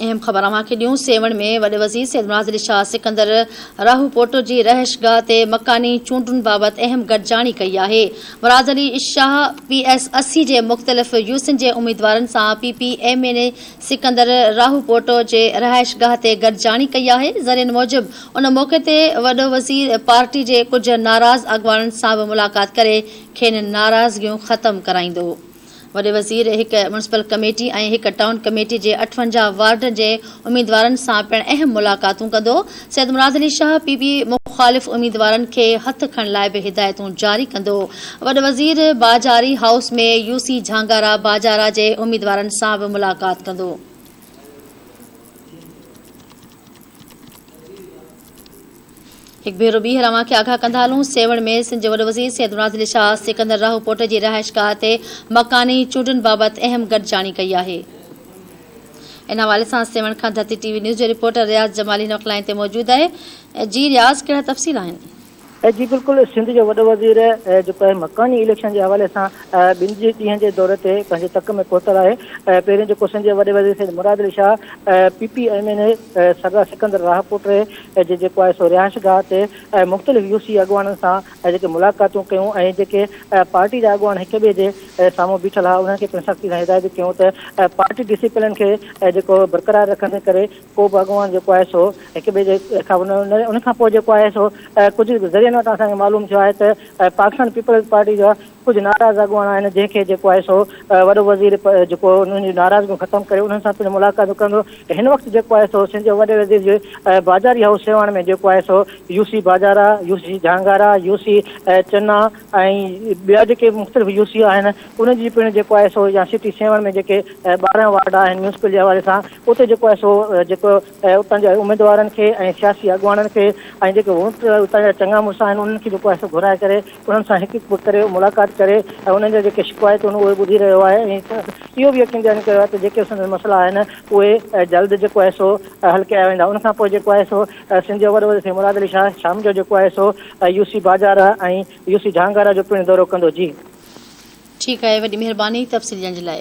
اهم خبر اوهان کي ڏيون، سيوهڻ ۾ وڏي وزير سيد مناظر علي شاهه سڪندر راهوپوٽو جي رهائشگاهه تي مڪاني چونڊن بابت اهم گڏجاڻي ڪئي آهي. مناظر علي شاهه پي ايس اسي جي مختلف يوسين جي اميدوارن سان P P M N A Sikandar Rahupoto جي رهائشگاهه تي گڏجاڻي ڪئي آهي. ذريعن موجب ان موقعي تي وڏو وزير پارٽي جي ڪجهه ناراض اڳواڻن سان به ملاقات ڪري کين ناراضگيون ختم ڪرائيندو. وڏي وزير هڪ ميونسپل ڪميٽي ۽ هڪ ٽائون ڪميٽي جي اٺونجاهه وارڊن جي اميدوارن سان پڻ اهم ملاقاتون ڪندو. سيد مراد علي شاهه پي پي مخالف اميدوارن کي هٿ کڻڻ لاء به هدايتون جاري ڪندو. وڏ وزير باجاري هائوس ۾ يوسي جهانگارا باجارا جي اميدوارن سان به ملاقات ڪندو. هڪ ڀيرو ٻيهر اوهان کي آگاهه ڪندا هلون، سيوهڻ ۾ سنڌ جي وڏو وزير سيد منازل شاهه سڪندر راهوپوٽ جي رهائشگاهه تي مڪاني چونڊن بابت اهم گڏجاڻي ڪئي آهي. ان حوالي سان سيوهڻ کان ڌرتي ٽي وي نيوز جو رپورٽر رياض جمالي هن وقت لائين تي موجود آهي. جي رياض ڪهڙا تفصيل آهن؟ جي بلڪل سنڌ جو وڏو وزير جيڪو آهي مڪاني اليڪشن جي حوالي سان ٻن جي ڏينهن جي دوري تي پنهنجي تڪ ۾ پهتل آهي پهرين جيڪو سنڌ جي وڏي وزير Syed Murad Ali Shah P P M N A Sardar Sikandar Rahupoto جي جيڪو آهي سو رهائش گاهه تي مختلف يو سي اڳواڻن سان جيڪي ملاقاتون ڪيون ۽ جيڪي پارٽي جا اڳواڻ هڪ ٻئي جي سامهون بيٺل ها انهن کي پڻ سختي سان هدايتون ڪيون ته پارٽي ڊسيپلن کي جيڪو برقرار رکندي ڪري ڪو به اڳواڻ جيڪو آهي سو هڪ ٻئي جي ان کان پوء جيڪو آهي سو ڪجهه ذريعن وٽان اسان کي معلوم ٿيو آهي ته پاڪستان پيپلز پارٽي جا ڪجهه ناراض اڳواڻ آهن جنهن کي جيڪو آهي سو وڏو وزير جيڪو انهن جون ناراضگيون ختم ڪري انهن سان پڻ ملاقاتون ڪندو هن وقت جيڪو آهي سو سنڌ جو وڏي وزير جي بازاري هائوس سيوهڻ ۾ جيڪو آهي سو U C Bazara U C Jhangara U C Channa ۽ ٻيا جيڪي مختلف يو سي آهن انهن جي پڻ جيڪو آهي سو يا سٽي سيوهڻ ۾ جيڪي ٻارهن وارڊ آهن ميونسپل جي حوالي سان اتي جيڪو آهي سو جيڪو اتان جي اميدوارن کي ۽ سياسي اڳواڻن کي ۽ جيڪي ووٽ اتان جا چڱا مڙس آهن انهن کي جيڪو آهي سو گهرائي ڪري انهن سان هڪ هڪ ڪري ملاقات ڪري ۽ انهن جا جيڪي شڪوايتون اهي ٻڌي رهيو آهي ۽ اهو به يقين ڏياري ڪيو آهي ته جيڪي سندس مسئلا آهن اهي جلد جيڪو آهي سو حل ڪيا ويندا ان کانپوء جيڪو آهي سو سنڌ جي وڏو وزير سيد مراد علي شاهه شام جو جيڪو آهي سو U C Bajara ۽ U C Jhangara جو پڻ دورو ڪندو جي ٺيڪ آهي وڏي مهرباني تفصيل ڄاڻ جي لاء.